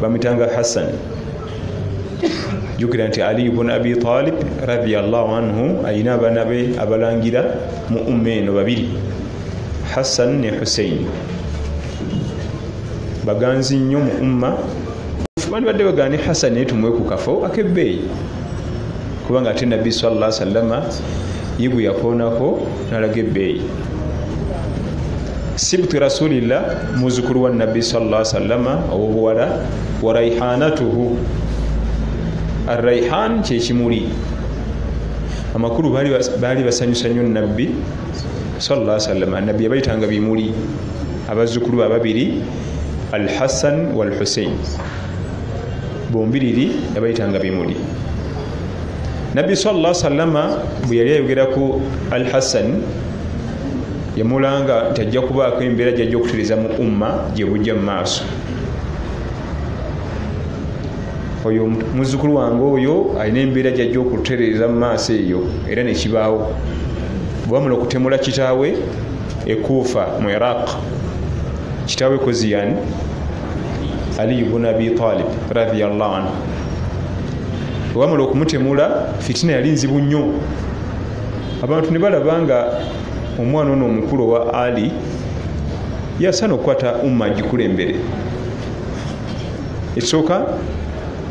bamutanga hassan jukira nti ali bun abi talib radiallahu anhu ayina abaana be abalangira mu umma eno babiri hassan ne hussein baganzi nnyo mu umma bandibadde bagani hassan naye tumuwe ku kafo akebbeeyi kubanga ate nabbi salla sallama ye gwe yakoonako nalaga ebbeeyi sibtu rasulillah muzukulu wa nabbi sala salama owobuwala wa raihanatuhu araihan kyekimuli amakulu baali basanyusa nyo nabbi sala salama nabbi yabayitanga bimuli abazukulu bababiri alhassan walhusein bombiriri yabayitanga bimuli nabbi salla salama bwe yali ayogera ku al hassan yamulanga nti ajja kubaako embeera gyajja okutereza mu umma gye bujja mu maaso oyo muzukulu wange oyo alina embeera gyajja okutereeza mu maaso eyo era nekibaawo bwamula okutemula kitaawe ekuufa mu iraq kitaawe koziyan aliyu bun abi talib radiallahu anhu wamala okumutemula fitina yali nzibu nnyo abantu ne balaba nga omwana ono omukulu owa ali yasaana okukwata umma agikulembere ekisooka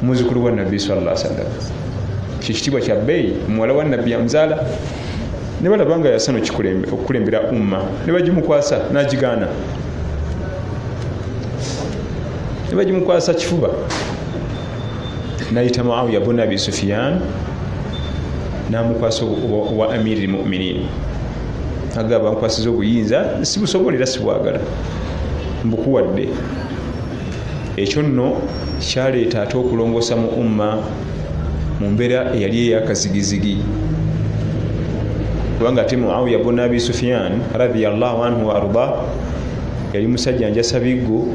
muzukulu wa nabbi salla sallam kyekitiibwa kya bbeeyi muwala wa nabbi amuzaala ne balaba nga yasana okukulembera umma ne bagimukwasa n'agigaana ne bagimukwasa kifuba nayita muawiya bun abi sufiyan namukwasa owa amiri lmuminin agaba nkwasiza obuyinza sibusobola era sibwagala mbukuwadde ekyo nno kyaleeta ate okulongoosa mu umma mu mbeera eyali eyakazigizigi kubanga ate muawiya buna abi sufiyan radiallahu anhu waarda yali musajja njasa biggo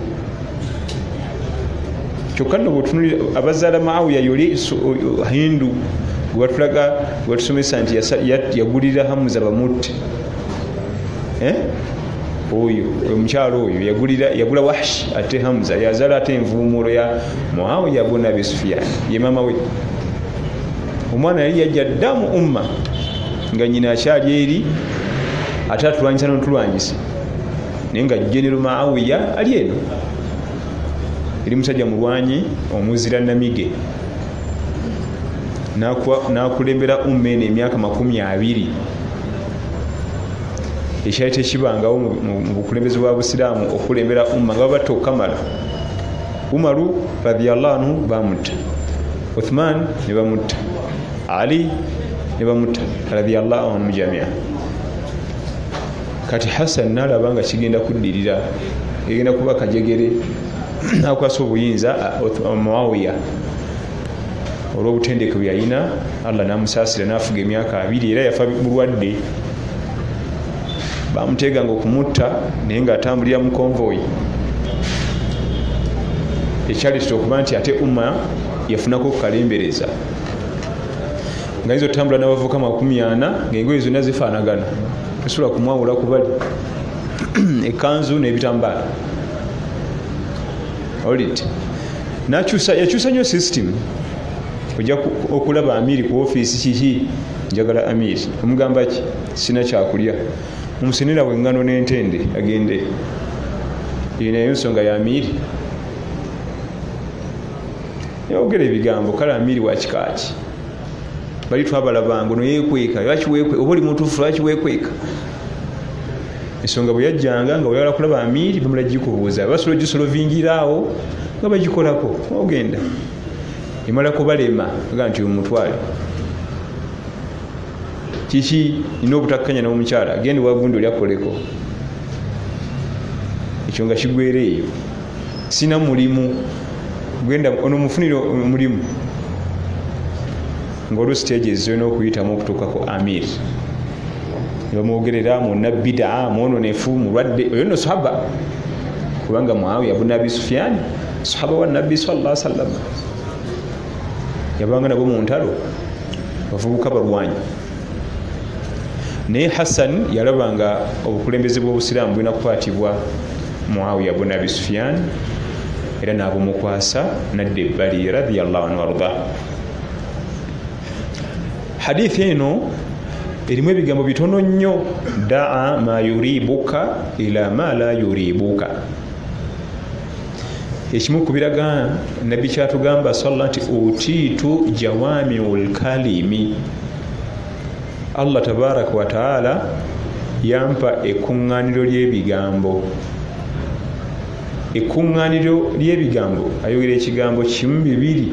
kyokka nno bwetunuli abazaala muawiya yoli hindu gwebatulaga gwebatusomesa nti yagulira hamuza bamutte eh? oyo omukyalo oyo yagulira yagula wahshi ate hamza yazala ate envuumuulo ya muawiya buna abi sufiyani ye maama we omwana yali yajja dda mu umma nga nyina akyali eri ate atulwanyisa notulwanyisa naye nga genero maawiya ali eno eri musajja mulwanyi omuzira namige nakulembera umma eno emyaka makumi abiri ekyali tekibangawo mu bukulembeze bwa busiraamu okulembera umma nga babatta okukamala umaru radiallahu anhu bamutta uthman ne bamutta ali ne bamutta radiallahu anhu mujamia kati hassan nalaba nga kigenda kuddirira egenda kuba kajegere nakwasa obuyinza uh, muawiya olw'obutendeke bwe yalina allah n'amusaasira n'afuga emyaka abiri era yafa bulwadde bamuteeganga okumutta naye ng'atambulira mu konvoyi ekyaleetera okuba nti ate umma yafunako okukalembereza nga yinza otambula n'abavuka makumi ana ng'engoye zonna zifaanagana tosobola kumwawula kubali ekanzu n'ebitambaala olit nakyusa yakyusa nyo system oja okulaba amiri ku ofisi kiki njagala amiri omugamba ki sina kyakulya omusenera wengano nentende agende eyo nayo nsonga ya amiri yogera ebigambo kale amiri wakikaaki bali twabalabanga noyekweka lwaki wekweka oba oli mutufu lwaki wekweka ensonga bwe yajjanga nga weyala kulaba amiiri bamala gikubuuza basobola ogisolovingira awo nga bagikolako ogenda emala kubalema aga nti omutwale kiki nina obutakkanya n'omukyala genda wagundi oli akoleko ekyo nga kigwera eyo sina mulimu genda onomufunire omulimu ngaoli stage zirina okuyitamu okutuuka ku amir nebamwogerera muna bidaa mwononefu mulwadde oyo no sahaba kubanga muawiya buna abi sufiani sahaba wa nabbi salla sallama yabanga nabo muntalo bavubuka balwanyi naye hassan yalabanga obukulembeze bwobusiraamu bulina kukwatibwa muawiya buna abi sufiani era nabumukwasa nadda ebbali radiallahu anhu wardah hadithi eno erimu ebigambo bitono nnyo daa ma yuribuka ila ma la yuribuka ekimu ku biraga nabbi kyatugamba salla nti utiitu jawamiu lkalimi allah tabaraka wataala yampa ekuŋŋaaniro ly'ebigambo ekuŋŋaaniro ly'ebigambo ayogera ekigambo kimu bibiri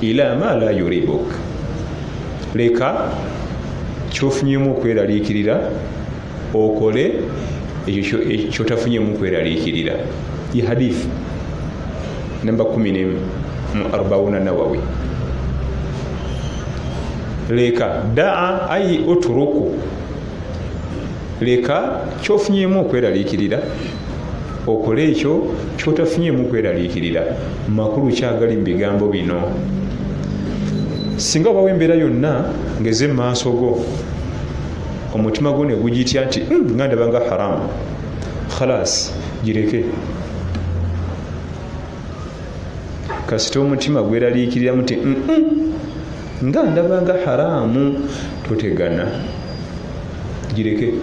ila ma la yuribuk leka kyofunyemu okweraliikirira okole ekyo kyotafunyemu okweraliikirira ye hadith namba 1 mu arbauna nawawi leka daa ayi oturuku leka kyofunyemu okweraliikirira okole ekyo kyotafunye mu kweraliikirira makulu kyagali mu bigambo bino singa obawo embeera yonna ngeze mu maaso go omutima gwo negugitya nti hmm, nga ndabanga haramu khalas gireke kasita omutima gweraliikiriramu ti hmm, hmm, nga ndaba nga haraamu totegana gireke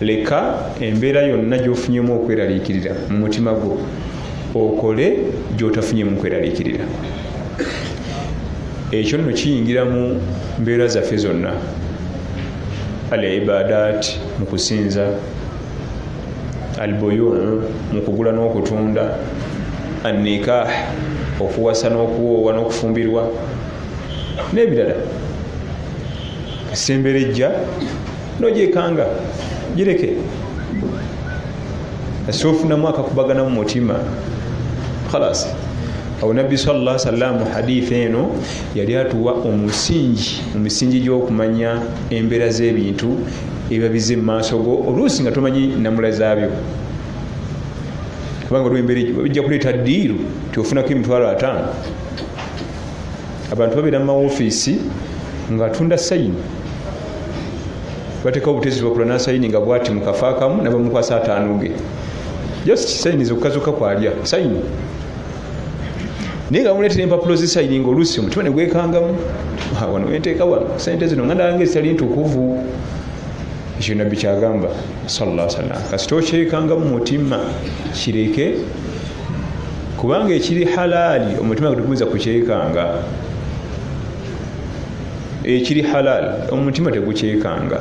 leka embeera yonna gyofunyemu okweraliikirira mu mutima gwo okole gyotafunyemu kweraliikirira ekyo nno kiyingira mu mbeera zaffe zonna al ibadat mu kusinza albuyu mu kugula n'okutunda annikah okuwasa n'okuwoowa n'okufumbirwa n'ebirala esembera ejja nogyekanga gireke asofunamu akakubagana mu mutima khalas awo nabbi salla salam haditha eno yali atuwa omusingi mu misingi gy'okumanya embeera z'ebintu ebiba bize mu maaso go oluusi nga tomanyi namula zaabyo kubanga olwo embeera egyo bijja kuleeta ddiiru ti ofunako emitwalo ataano abantu babeera mu mawofiisi ngaatunda sayini batekawo obutezi bakula nasayini nga bwati mukafa akamu nabamukwasa ataano ge just sayini zokukazuka kwalya sayini naye nga muleetera empapulo zisayininga oluusi omutima negwekangamu ah, wano wenteeka wano sente zino nga nange zitali ntukuvu ekyo nabbi kyagamba salla salam kasita okyekanga mu mutima kireke kubanga ekiri halaali omutima gutegumiza kukyekanga ekiri halaali omutima tegukyekanga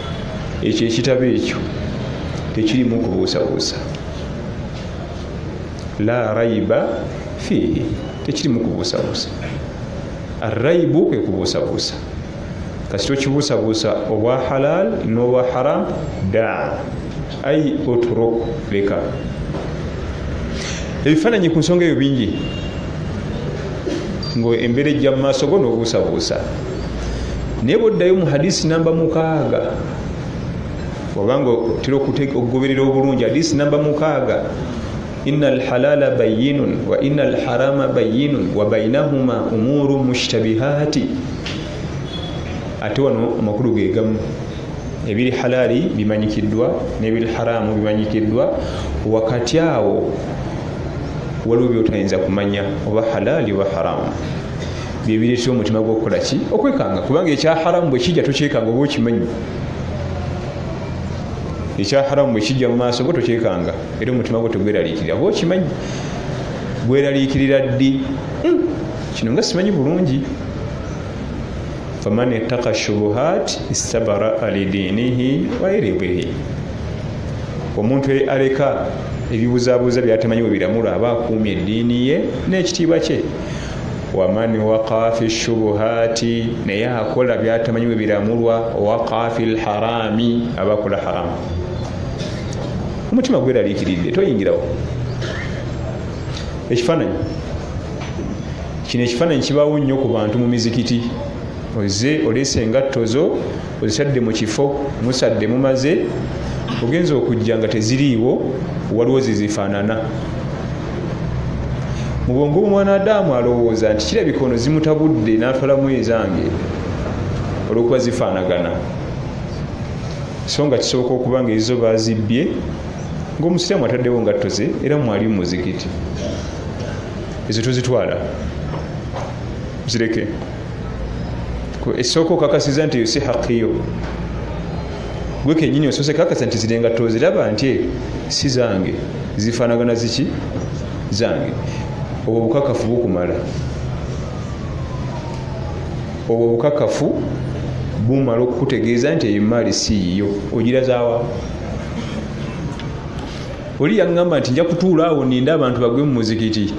ekyo ekitabo ekyo tekirimu kubuusabuusa la raiba fiihi tekirimu kubuusabuusa araibu kwe kubuusabuusa kasi tokibuusabuusa obwa halal n'obwa haram daa ai oturok leka ebifaananyi ku nsonga eyo bingi ngaembeera ejja mu maaso go n'obuusabuusa naye bwoddayo mu hadisi namba mukaaga obanga otera okugoberera obulungi hadisi namba mukaaga ina alhalala bayinun wa ina alharama bayinun wa bainahuma umuru mushtabihati ate wano amakulu gegamu ebiri halaali bimanyikiddwa nebiri haraamu bimanyikiddwa wakati awo waliwo byotayinza kumanya oba halaali oba haraamu byebireetera omutima gwokukola ki okwekanga kubanga ekya haramu bwekijja tokyekanga oba okimanyi ekya haramu bwekijja mu maaso go tokyekanga era omutima gwo tegweraliikirira oba okimanyi gweraliikirira ddi hmm, kino nga simanyi bulungi faman itaka shubuhat istabara alidiinihi wairibihi omuntu aleka ebibuzabuza byatamanyi webiramura aba akuumye eddiini ye n'ekitiibwa kye waman waqa fi shubuhati naye akola byatamanyi bwe biramulwa waqa fi lharami aba akola haramu omutima gweraliikiridde toyingirawo ekifaananyi kino ekifaananyi kibaawo nnyo ku bantu mu mizikiti oze oleese engatto zo ozisadde mu kifo musadde mumaze ogenza okujja nga teziriiwo waliwo zizifaanana mu bwongo bwomwanadamu alowooza nti kirabika ono zimutabudde natwalamu ezange olwokuba zifaanagana so nga kisoboka okuba nga ezizo bazibbye ngaomusiraamu ataddewo ngatto ze era mwali mumuzikiti ezo tozitwala zireke esooka okakasiza nti eyo si haqiyo gwe kenyini osoose kakasa nti zirenga toziraba nti eh, si zange zifanagana ziki zange obwo bukakafu bukumala obwo bukakafu bumala okukutegeeza nti eyo emaali si yiyo ogirazawa oli yaŋŋamba nti nja kutuula awo ninde abantu bagwe mu muzikiti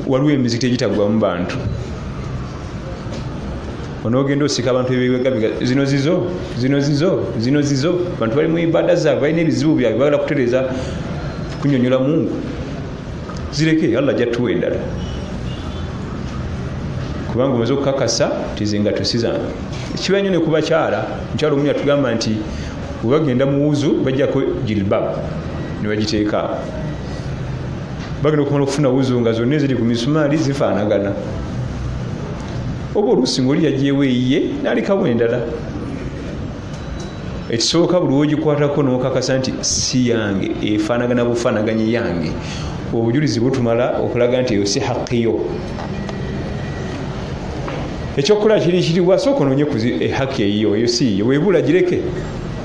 waliwo emizikiti egitaggwamu bantu onogenda osika abantu ebiwegabiga zino zizo zino zizo zino zizo bantu bali mu ibada zaabwe balina ebizibu byabwe bagala kutereza kunyonyola mungu zireke allah jattuwa endala kubanga omaze okukakasa tizinga tusizange kiba nyo nekubakyala mukyalo omu yatugamba nti webagenda muwuzu bajjako jilbab nebagiteekaako bagenda okumala okufuna wuzu nga zonna eziri ku misumaali zifaanagana oba oluusi ngaoli yagyewo eyiye nalikawo endala ekisooka buli wogikwatako nokakasa nti si yange efaanagana bufaanaganye yange obujulizi butumala okulaga nti eyo si haqiyo ekyokukola kiri kiriwa sooka ononye ehaki eyiyo eyo siiyo webula gireke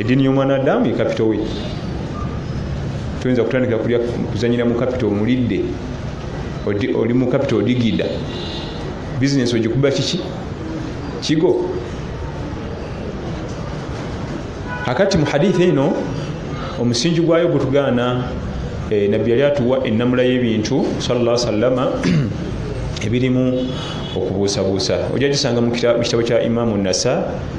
eddiini y'omwana adamu ye kapito we toyinza kutandikira kulya kuzanyira mu kapito omulidde oli mu kapito odigida bizinesi ogikuba kiki kigo akati mu haditha eno omusingi gwayo gutugaana eh, nabbi yali atuwa ennamula y'ebintu salla sallama ebirimu okubuusabuusa ojja gisanga mu kitabo kya imamu nasa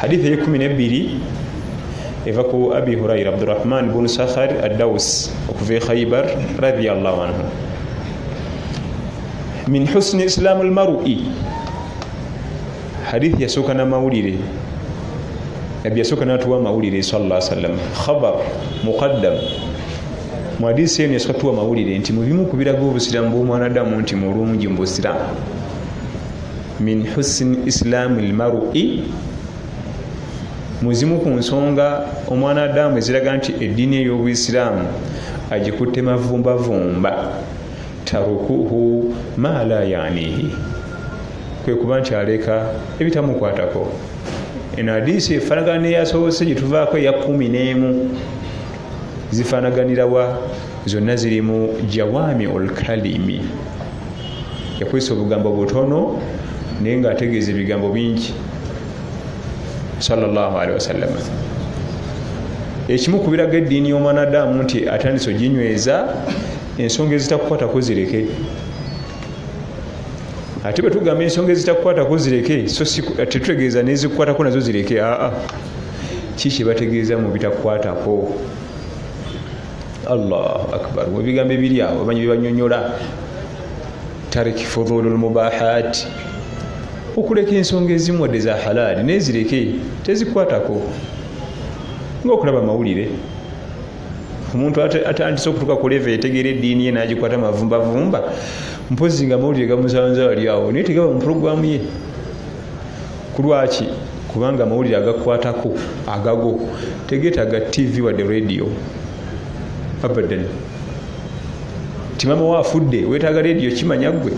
hadithi eyekumi nebbiri eva ku abi huraira abdurahman bun sakhar addaus okuva e khaibar radiallahu anhu min husni islaamu lmarui hadithi yasooka namawulire nabbi yasooka natuwa amawulire sala sallam khabar muqaddam mu hadisi eno yasooka tuwa amawulire nti mubimu kubiraga obusiraamu bwomwanadamu nti mulungi mu busiraamu min husni islami lmarui muzimu ku nsonga omwana adamu eziraga nti eddiini ey'obuisiraamu agikutte mavumbavumba tarukuhu ma la yanihi kwe kuba nti aleka ebitamukwatako eno adiisi efanagana neyasobose gyetuvaako eya kumi n'emu zifanaganirawa zonna ziri mu jawami olkalimi yakozesa obugambo butono naye ngaategeeza ebigambo bingi salllahalihi wasallama ekimu ku biraga eddiini y'omwanadamu nti atandise oginyweza ensonga ezitakukwatako zireke ate bwe tugamba ensonga ezitakukwatako zireke tetutegeeza nezikukwatako nazo zireke aa kiki bategeeza mu bitakukwatako allahu akbar ebigambo ebiri awo omanyi byebanyonyola tariki fudulu lmubahat okuleka ensonga ezimu wadde za halaali naye zireke tezikwatako ngaokulaba amawulire omuntu atandise okutuka kuleva etegeera eddiini ye nagikwata mavumbavumba mpozi nga amawulire gamusanza wali awo naye tegaba mu pulogulaamu ye kulwaki kubanga amawulire agakwatako agago tegetaga tv wadde radio abadan timama wa afudde wetaga radio kimanya gwe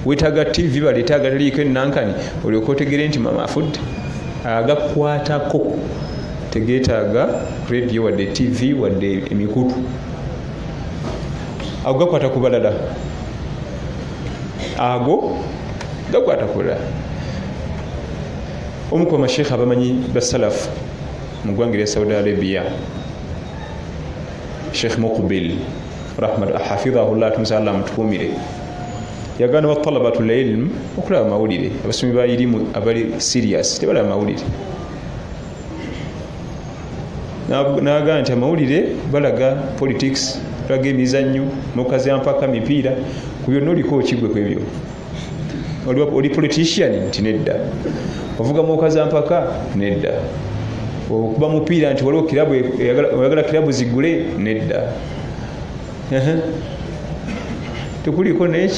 wetaga tv baleeta agataliiko enankani olyoka otegere nti mama afudde agakwatako tegetaaga radio wadde tv wadde emikutu ago gakwata ku balala ago gakwata kulala omu ku bamashekha abamanyi basalafu mu ggwanga erya saudi arabia sheikh muqbil rahmat hafidhahullah tumusa allah amutukumire yagana batalabatu lilm okulaba amawulire abasomi ba irimu abali serious tebalaba amawulire n'agamba nti amawulire balaga politics balaga emizannyo mukazi ampaka mipiira ku byonna oliko okigwe ku ebyo oli politician nti nedda ovuga mukazi ampaka nedda okuba mupiira nti waliwo kirabu e-, oyagala kirabu zigule nedda tekuliko naye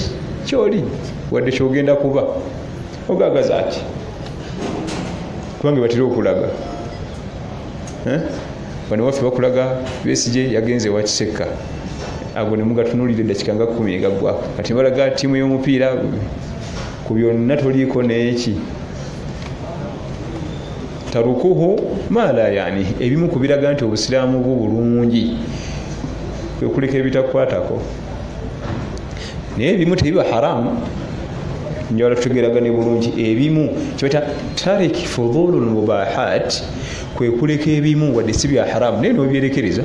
kyoli wadde kyogenda kuba ogagaza ati kubange batera okulaga eh? bano waffe bakulaga besije yagenze wakisekka ago nemugatunulidde dakika nga kumi egagwako kati balaga tiimu y'omupiira ku byonna toliiko neeki tarukuhu maala yani ebimu ku biraga nti obusiraamu bwo bulungi kwekuleka ebitakwatako naye ebimu tebiba haramu njagala tutegeragane bulungi ebimu kibata tarik fudulu lmubahat kwekuleka ebimu wadde si bya haramu naye nobyerekereza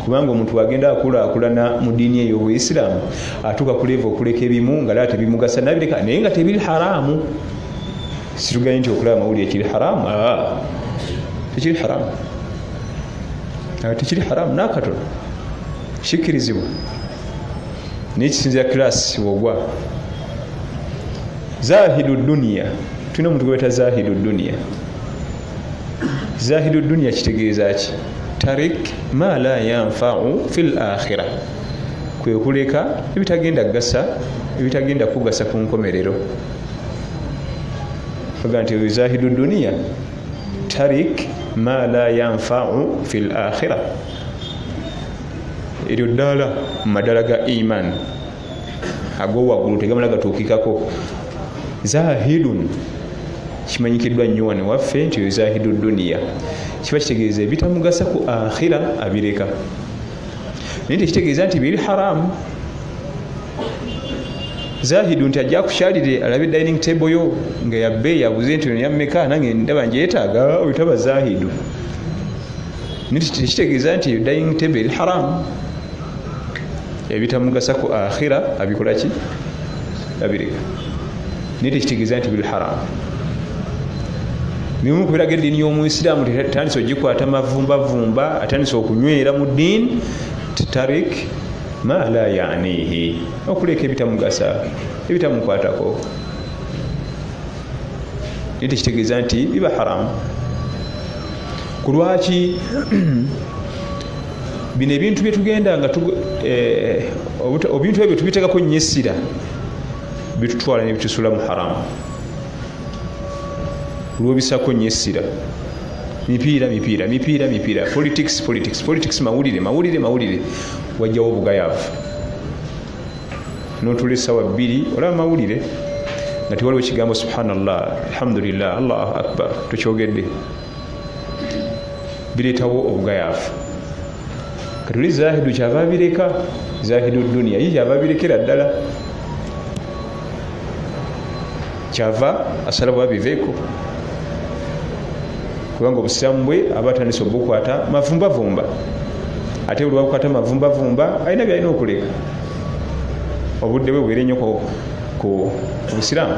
kubanga omuntu agenda akulakulana mu diini eyobuisiramu atuuka kuleva okuleka ebimu nga laa tebimugasa nabireka naye nga tebiri haramu situgaye nti okulaba amawulire kiri haramu tekiri haramu tekiri haramu nakatono kikirizibwa naye kisinzira kilasi wogwa zahidu duniya tulina omuntu gwebeta zahidu duniya zahidu duniya kitegeeza ki tarik ma la yanfau fi l akhira kwekuleka ebitagenda kugasa ebitagenda kugasa ku nkomerero aga nti oyo zahidu duniya tarik ma la yanfau fi l akhira eryo ddaala mu madala ga iman agowaggulu tegamala gatuukikako zahidun kimanyikiddwa nnyo wano waffe nti oyo zahidu duniya kiba kitegeeza ebitamugasa ku akhira abireka naye tekitegeeza nti biri haramu zahidu nti ajja kukyalire alabe dining table yo nga yabbe yabuze nti ono yammeka nange ndaba njeyetaaga oyo taba zahidu tekitegeeza nti eyo dining table eri haramu ebitamugasa ku akhira abikolaki abireka naye tekitegeeza nti biri haramu bimu kubiraga eddiini y'omuisiraamu tetandise ogikwata mavumbavumba atandise okunywera mu ddiini tarik ma la yanihi okuleeka ebitamugasa ebitamukwatako naye tekitegeeza nti biba haramu ku lwaki bino ebintu byetugenda nga eh, obintu ebyo tubitekako nyo essira bitutwala nebitusula mu haramu lwobisako nyo essira mipiira mipiira mipiira mipiira politics politics politics mawulire mawulire mawulire wajjawo obugayavu notula esawa bbiri olaba mawulire nga tewaliwo kigambo subhanallah alhamdulillah allahu akbar tukyogedde bireetawo obugayaavu kati oli zahidu kyava bireka zahidu duniya ye kyava birekera ddala kyava asalawo abiveeko kubanga obusiraamu bwe aba atandise obukwata mavumbavumba ate buli wabukwata mavumbavumba alina byalina okuleka obudde bwe bwere nnyo ku busiraamu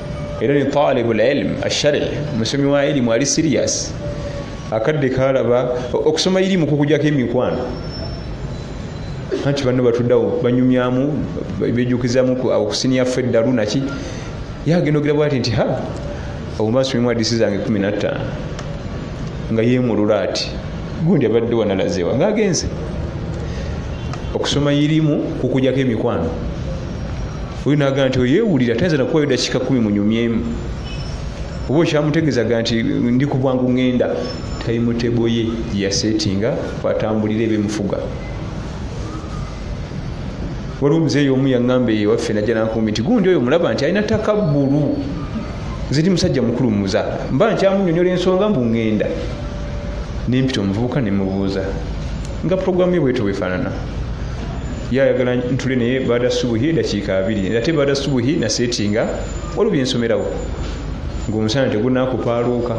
era ni talibu lilm ashari musomi wa ilimu ali sirias akadde kalaba okusoma ilimu kukujako emikwano anti banno batuddawo banyumyamu bejukizamu okusiniyaffe eddalu naki yagenda ogira bwati nti ha obumasomimu adisi zange kumi nattaano nga yemulula ati gundi abadde wanalazewa ngaagenze okusoma irimu kukujako emikwano oyo nagamba nti oyewulira tayinza nakuwayo dakika kumi munyumyemu oba okyamutegezaga nti ndi ku bwangu ŋŋenda tayimuteboye yasetinga kwatambulira ebimufuga waliwo omuzeeyi omu yaŋŋamba eyo waffe najja nankumbi nti gundi oyo mulaba nti alina takabbulu nze ndi musajja mukulu muza mba nkyamunyonyola ensonga mbu ŋŋenda nempita omuvubuka nemubuuza nga puroguramu ye bweto bwefaanana ye ayagala ntule naye baada subuhi edakiika abiri ate baada subuhi nasetinga waliwo byensomerawo ngaomusana tegunakupaaluuka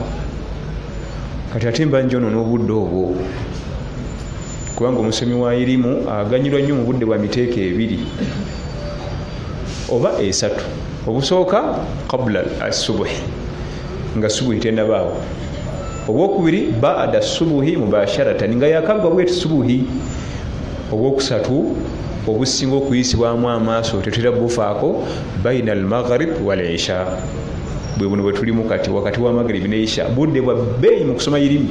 kati ate mba njono n'obudde obwo kubanga omusomi wa irimu aganyirwa nnyo mu budde bwa miteeko ebiri oba esatu obusooka kabula asubuhi nga subuhi tenabaawo obwokubiri baada subuhi mubasharatan nga yakagwa bweti subuhi obwokusatu obusinga okuyisibwamu amaaso tetera bufaako baina almaghrib walisha bwe buno bwetulimu kati wakati wa maghrib neisha budde bwa beeyi mu kusoma irimi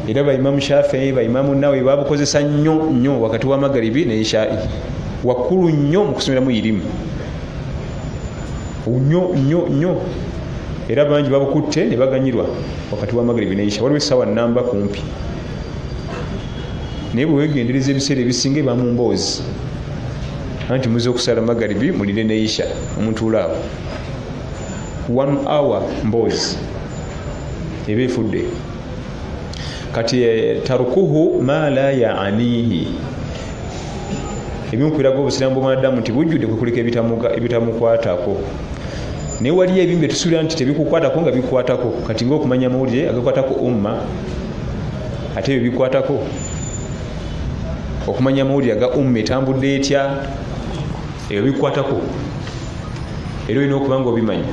era baimamu shafii baimamu nawe babukozesa nnyo nnyo wakati wa magharibi neishai wakkulu nnyo mu kusomeramu irimu nyo nyo nyo era bangi babukutte ne baganyirwa wakati wa magrebi neisha waliwo essaawa namba kumpi naye bwewegendereza ebiseera ebisinga eba mu mboozi anti muze okusala magaribi mulire neisha omutuulaawo one hour mboozi eba efudde kati eh, tarukuhu ma la yaanihi ebimu kubiraga obusiraamu bwomwanadamu nti bujjudde kwekulika ebitamukwatako naye waliyo ebimu byetusuubira nti tebikukwatako nga bikwatako kati ngaokumanya amawulire agakwatako umma ate ebyo bikwatako okumanya amawulire aga umma etambudde etya ebyo bikwatako era olina okuba nga obimanya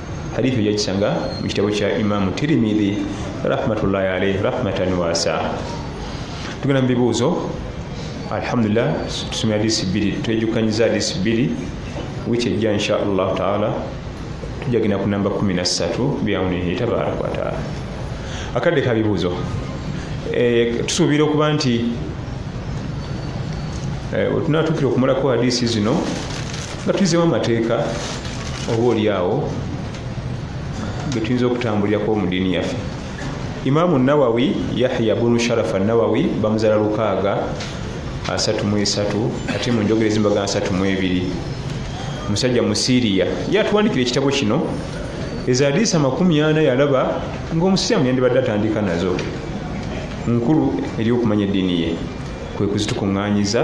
hadithi ojjakisanga mu kitabo kya imamu tirimidhi rahmatullahi alaihi rahmatan wasa tugenda mu bibuuzo alhamdulillah tusomera hadisi bbiri twejukanyiza hadisi bbiri wiki ejja insha allahu taala tujja genda ku namba 13 biaunihi tabaraka wataala akadde ka bibuuzo eh, tusuubira okuba nti eh, wetunatuukira okumulako hadisi zino nga tuyizewo amateeka oba oli awo getuyinza okutambulirako mu diini yaffe imaamu nawawi yahya bunu sharafa nawawi bamuzala lukaaga asatu mu esatu ate mu njogera ezimbaga asatu mu ebiri musajja mu siriya yatuwandikira ekitabo kino ezadiisa amakumi ana yalaba ngaomusiraamu yandibadde atandika nazo nkulu eri okumanya eddiini ye kwe kuzitukuŋŋanyiza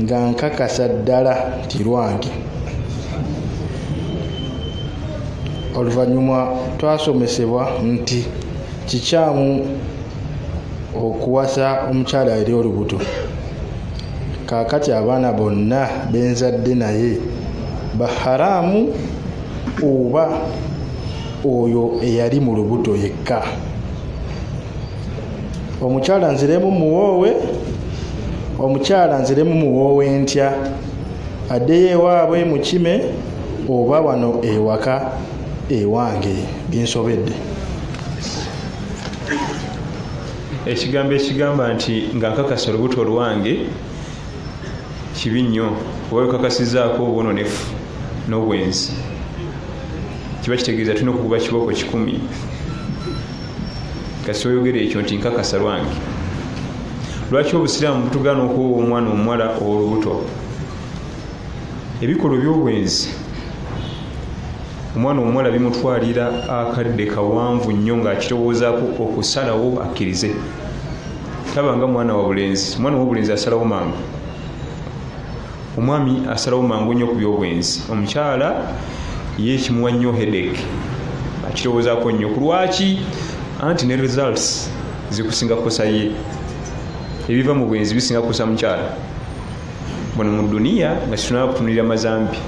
nga nkakasa ddala nti lwange oluvannyuma twasomesebwa nti kikyamu okuwasa omukyala eri olubuto kaakati abaana bonna benzadde naye baharaamu oba oyo eyali mu lubuto yekka omukyala nziremu muwoowe omukyala nziremu muwoowe ntya addeyo ewaabwe mukime oba wano ewaka ewange binsobedde ekigambo ekigamba nti nga nkakasa olubuto olwange kibi nnyo oba wekakasizaako obwononefu n'obwenzi kiba kitegeeza tulina okukuba kibooko kikumi kasi oyogera ekyo nti nkakasa lwange lwaki obusiraamu butugaana okuwowa omwana omuwala owolubuto ebikolwa ebyobwenzi omwana omuwala bimutwalira akadde kawanvu nnyo ngaakirowoozaako okusalawo akkirize taba nga mwana wabulenzi omwana wabulenzi asalawo mangu omwami asalawo mangu nnyo ku byobwenzi omukyala ye ekimuwa nnyo hedek akirowoozako nnyo ku lwaki anti ne results zikusinga kukosa ye ebiva mu bwenzi bisinga kukosa mukyala bano mu duniya nga kitunaba kutunulira mazambi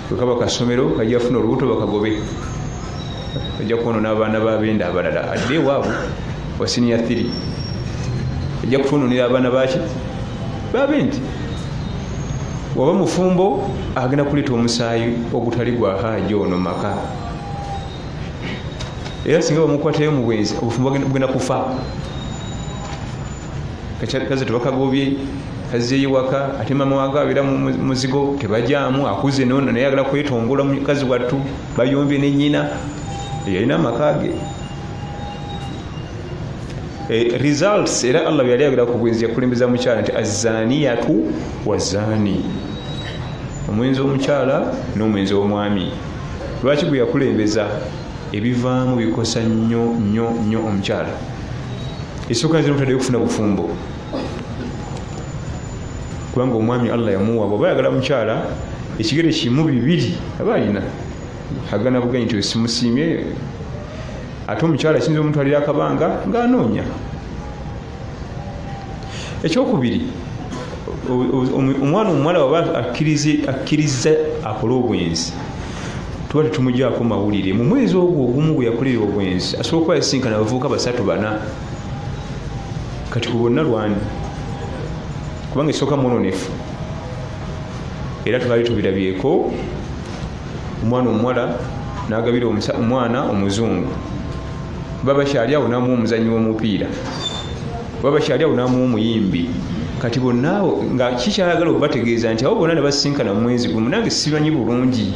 kwekaba kasomero kajafuna olubuto bakagobe ojja kwonona abaana babenda abalala adde ewaabwe wasiniya thiri ojja kutwononera abaana baki babendi waba mufumbo agenda kuleeta omusaayi ogutali gwa haaji ono maka era singa bamukwatayo mu bwenzi obufumbo bugenda kufa kaze tebakagobye kazeeyo waka ate mama wange abeera muzigo tebajaamu akuze nono naye agala kwetongola mukazi wattu bayombye ne nyina yalina amaka ge eh, results era allah yali agera ku bwenzi yakulembeza mukyala nti azaniyatu wazani omwenzi omukyala n'omwenzi omwami lwaki gwe yakulembeza ebivaamu bikosa nnyo nnyo nnyo omukyala esooka nzira mutaddeyo okufuna bufumbo kubanga omwami allah yamuwa bwaba ayagala mukyala ekigere kimu bibiri aba alina agana buganyi nti simusiimye ate omukyala kiyinza omutwalira akabanga ng'anoonya ekyokubiri omwana omuwala waba akkirizza akole obwenzi tuba tetumugyako mawulire mu mwezi ogwo ogumu gwe yakolera obwenzi asobola okuba yasinkana abavubuka basatu bana kati ku bonna lwani kubanga esooka mwononefu era tubali tubirabyeko omwana omuwala nagabira omwana omuzungu babakyali awo namuwa omuzanyi womupiira babakyali awo namuwa omuyimbi kati bonaawo nga kikyayagala okubategeeza nti awo bonna nebasinkana mumwezi gumu nange sibanyi bulungi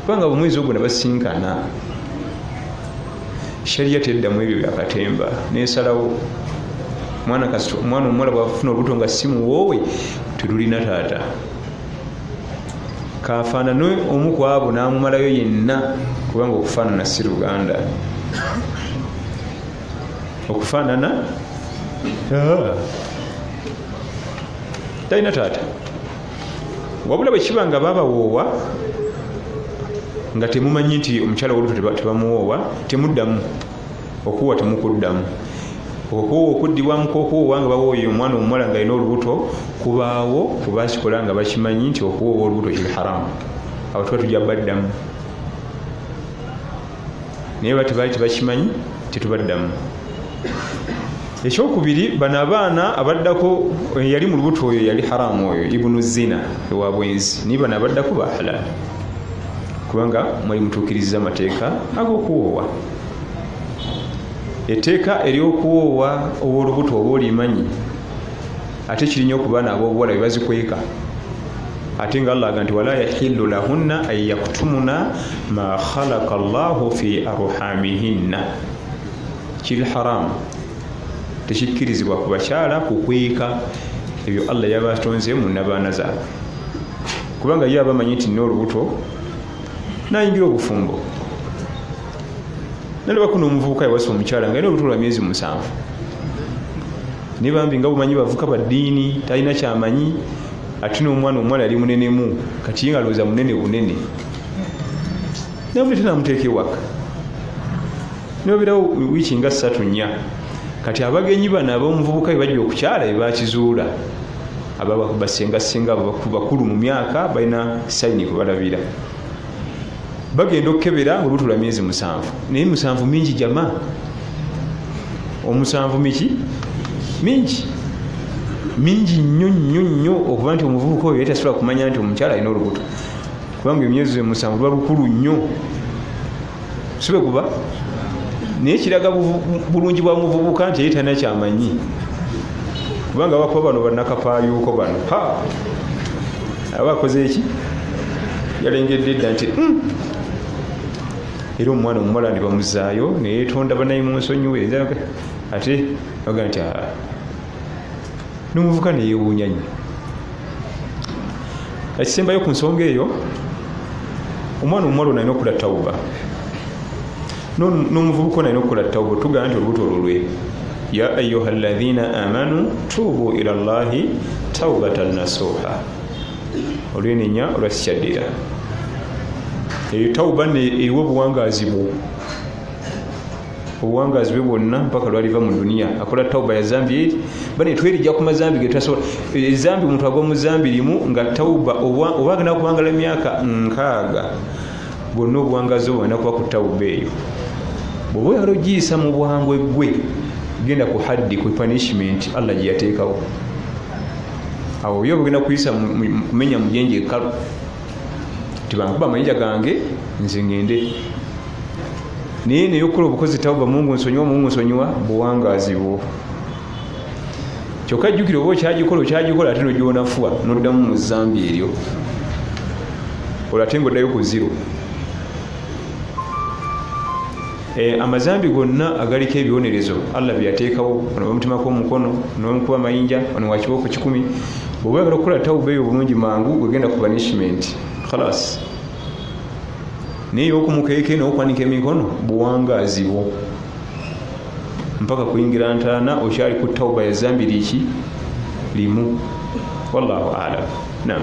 kubanga bumwezi ogwo nebasinkana sharia tedda mu ebyo byakatemba nesalawo mwana kasita omwana omuwala bwafuna olubuto nga si muwoowe tetulina taata kafaanane omu ku abo n'amumalayo yenna kubanga okufaanana si luganda okufaanana ah. talina taata wabula bwe kiba nga babawoowa nga temumanyi nti omukyala woluto tebamuwoowa temuddamu okuwoowa temukuddamu okuwoowa okuddibwamu kwokuwoowa nga bawooye omwana omuwala nga alina olubuto kubaawo kubakikola nga bakimanyi nti okuwoowa olubuto kiri haramu awo tuba tujja baddamu naye oba tebaali tebakimanyi tetubaddamu ekyokubiri bano abaana abaddako yali mu lubuto oyo yali haramu oyo ibunu zina ewa bwenzi naye bano abaddako ba halal kubanga mwali mutuukiriza amateeka ag'okuwoowa etteeka ery'okuwoowa ow'olubuto oba olimanyi ate kirinya okuba naabo obuwala bebazikweka ate nga allah aga nti wala yahillu lahunna an yaktumuna ma khalaqa llahu fi arhamihinna kiri haramu tekikkirizibwa ku bakyala kukweka ebyo allah yabatonze mu nabaana zaabwe kubanga ye abamanyi nti nina olubuto nayingira obufumbo nalabako nomuvubuka yawasa omukyala nga yina olubuto lwa myezi musanvu naye bambi nga bumanyi bavuka baddiini talina kyamanyi ate nomwana omwana yali munenemu kati ye nga lowooza munene bunene nabuleta namuteeka ewaka noberawo wiiki nga ssatu nnya kati abagenyi bano abaomuvubuka bebajja okukyala bebakizuula ababasengasenga bakulu mu myaka balina sayini kubalabira bagenda okukebera olubuto lwa myezi musanvu naye musanvu mingi jama omusanvu miki mingi mingi nnyo nnyo nnyo okuba nti omuvubuka oyo yatasobola kumanya nti omukyala alina olubuto kubanga emyezi musanvu luba lukulu nnyo sibe kuba naye kiraga bulungi bwa muvubuka nti yeyitana kyamanyi kubanga bakuba bano banakapayuuko bano ha aba akoze eki yalengedde edda nti hmm. era omwana omuwala ne bamuzaayo neyetonda banaye mu nsonyiwe ate aga nti n'omuvuka neyewuunya nnyo ekisembayo ku nsonga eyo omwana omuwala onalina okula tawuba n'omuvubuka onalina okula tawuba otugamba nti olubuto lulwe ya ayuha lathina amanu tuubu ila llahi taubatan nasuha olwenenya olwasikyaddira eyo tawuba eriwo obuwangaazi bwo obuwangazi bwe bwonna mpaka lwaliva mu duniya akola tauba ya zambi eri bane twerija ku mazambi getutasobola ezambi omuntu agwa mu zambi limu nga tauba oba agenda kuwangala emyaka nkaaga bwonna obuwangazi obwo agenda kuba ku tauba eyo bwoba oyala ogiyisa mu bwangu eggwe genda ku haddi ku punishment allah gyeyateekawo awo oyo obugenda kuyisa kumenya mujenje ekalu tibankuba amayinja gange nze ngende naye neyokukola obukozi tawuba mungu nsonyiwa mungu nsonyiwa buwangazi bwo kyokka jjukira oba okyagikola okyagikola ate nogyonafuwa noddamu mu zambi eryo olwo ate nga oddayo ku ziro Eh, amazambi gonna agaliko ebibonerezo allah byeyateekawo ono bamutemako omukono nomukuba mayinja ono wakibooko kikumi oba yagala okukola tawuba eyo obulungi mangu gwegenda ku banishment khalas naye okumukeeke nokwanika emikono buwangaazi bwo mpaka kuyingira ntaana okyali ku tawuba yazambi liki limu wallahu alam nam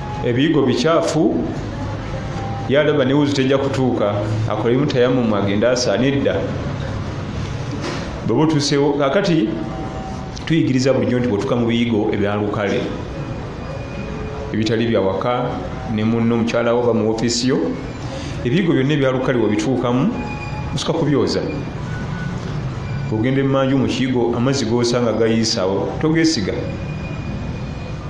ebiyigo bikyafu yalaba newuzi tejja kutuuka akolemu tayamumu agende asaana edda bweba otuusewo kakati tuyigiriza bulijjo nti bwotuuka mu biyigo ebyalukale ebitali byawaka ne munno omukyalawo oba mu ofiisi yo ebiyigo byonna ebyalukale webituukamu osuka kubyoza ogenda emanju mukiyigo amazzi gosanga gayiisawo togesiga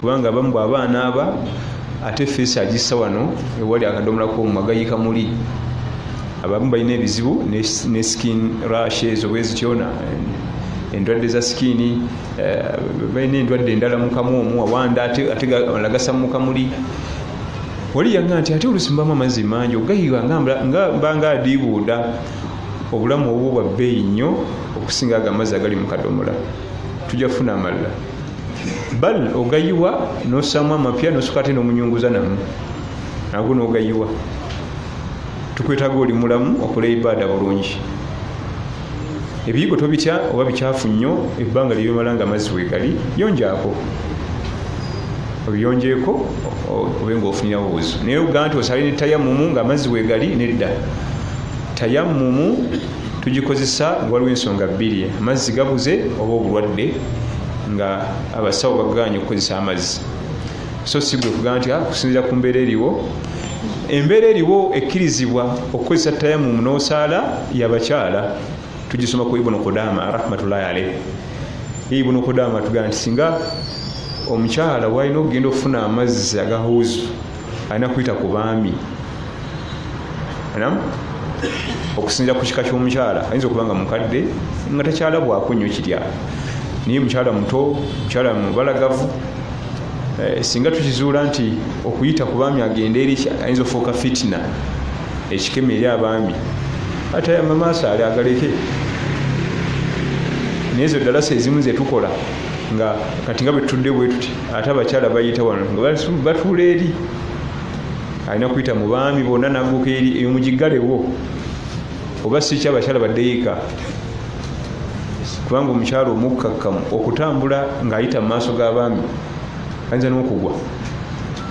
kubanga abamu bwaba anaaba ate feesi agissa wano ewali akadomola komu agayika muli abamu balina ebizibu ne skin rush ezo bwezityona endwadde za sikiini eh, balina endwadde endala mukamu omu awanda atealagasa mukamuli wali yanga nti ate olusimbamu amazzi mangi ogayiwa nga mbanga adiibuuda obulamu obwo bwa bbeeyi nnyo okusinga ago amazzi agali mu kadomola tujja kufuna amalala bal ogayiwa nosamu amapya nosuka ate nomunyunguza namu nago nogayiwa tukwetaga oli mulamu okola ibaada bulungi ebiyigo tobitya oba bikyafu nnyo ebbanga lyebimala nga amazzi wegali yonjaako obiyonjeeko obe nga ofunirawo buzu naye ogaa nti osale ne tayamumu nga amazzi wegali nedda tayamumu tugikozesa waliwo ensonga bbiri amazzi gabuze oba obulwadde nga abasawo baganye okukozesa amazzi so sigwe kugamba nti ah, kusinzira ku mbeera eriwo embeera eriwo ekkirizibwa okukozesa tayamumu n'osaala yabakyala tugisoma ku ibunu kudama rahmatullahi aleih ibunu kudama tugamba nti singa omukyala walina okugenda okufuna amazzi agahuzu alina kuyita ku baami okusinzira ku kika ky'omukyala ayinza okuba nga mukadde nga takyalabwako nnyo kirya naye mukyala muto mukyala mubalagavu eh, singa tukizuula nti okuyita ku baami agende eri ayinza ofuuka fitina ekikema eri abaami ate amamaaso ali agaleke naye ezo dalasa ezimu zetukola nga kati nga bwetutudde bwetuti ate abakyala bayita wano nga batuula eri alina kuyita mu baami bonna naguka eri eyo mugigalewo oba siki abakyala badeyika kubanga omukyala omukkakkamu okutambula ng'ayita mu maaso g'abaami ayinza n'okugwa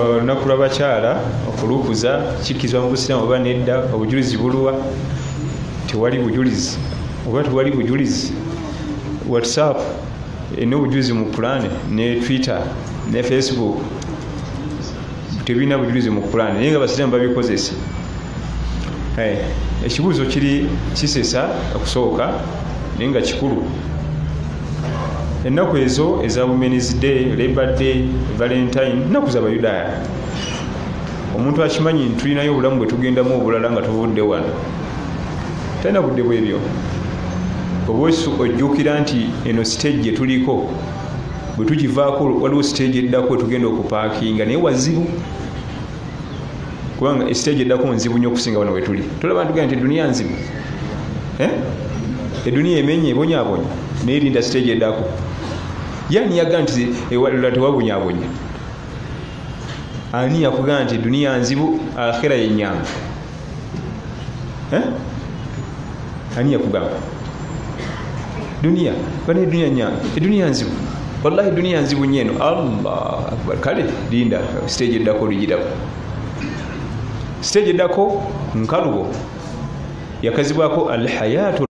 olunaku lwabakyala okulukuza kikkizibwa mu busiraamu oba nedda obujulizi buluwa tewali bujulizi oba tewali bujulizi whatsapp erina obujulizi mu pulaani ne twitter ne facebook tebirina bujulizi mu pulaani naye nga basiraamu babikozesa eh, ekibuuzo kiri kisesa okusooka naye nga kikulu ennaku ezo eza womens day labor day valentine nnaku zabayudaaya omuntu akimanyi nti tulinayo obulamu bwe tugendamu obulala nga tuvudde wano talina budde bwebyo oba ojjukira nti eno siteegi gye tuliko bwe tugivaako waliwo siteegi eddako wetugenda okupaakinga naye wazibu kubanga esiteegi eddako nzibu nyo okusinga wano wetuli tulaba ntuga nti eduniya nzibu eh? eduniya emenye ebonyabonya naye linda siteegi eddako yani yaga nti ewalula tewabonyabonya ani yakugaa nti eduniya nzibu akhira yenyangu eh? ani yakugamba duniya bana eduniya nyana eduniya nzibu wallahi eduniya nzibu nyeno allah akbar kale linda stage eddako luyirako stage eddako nkalubo yakazibwako alhayatu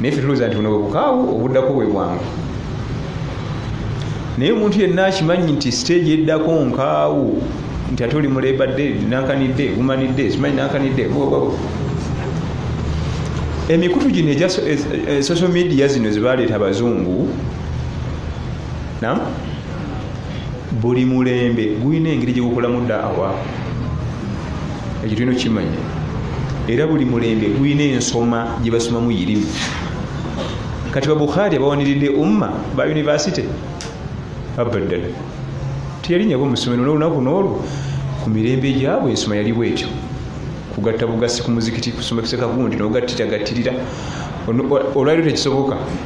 naye fe tulowooza nti buno bwe bukaawu obuddako bwe bwangu naye omuntu yenna akimanyi nti siteegi eddako nkaawu nti ate oli mulebadde nankanidde gumanidde simanyi nankanidde emikutu gino egya eh, eh, social media zino zebaleeta abazungu nam buli mulembe gulina engeri gyegukolamu daawa ekyo tulina okukimanya era buli mulembe gulina ensoma gyebasomamu yirimu kati babukhari abawaniridde umma ba univesity abaddala teyalinyabo musomero nolunaku noolwo ku mirembe gyabwe ensoma yali bwetyo kugatta bugasi ku muzikiti kusoma kisekagundi nogattira gattirira olwaliro tekisoboka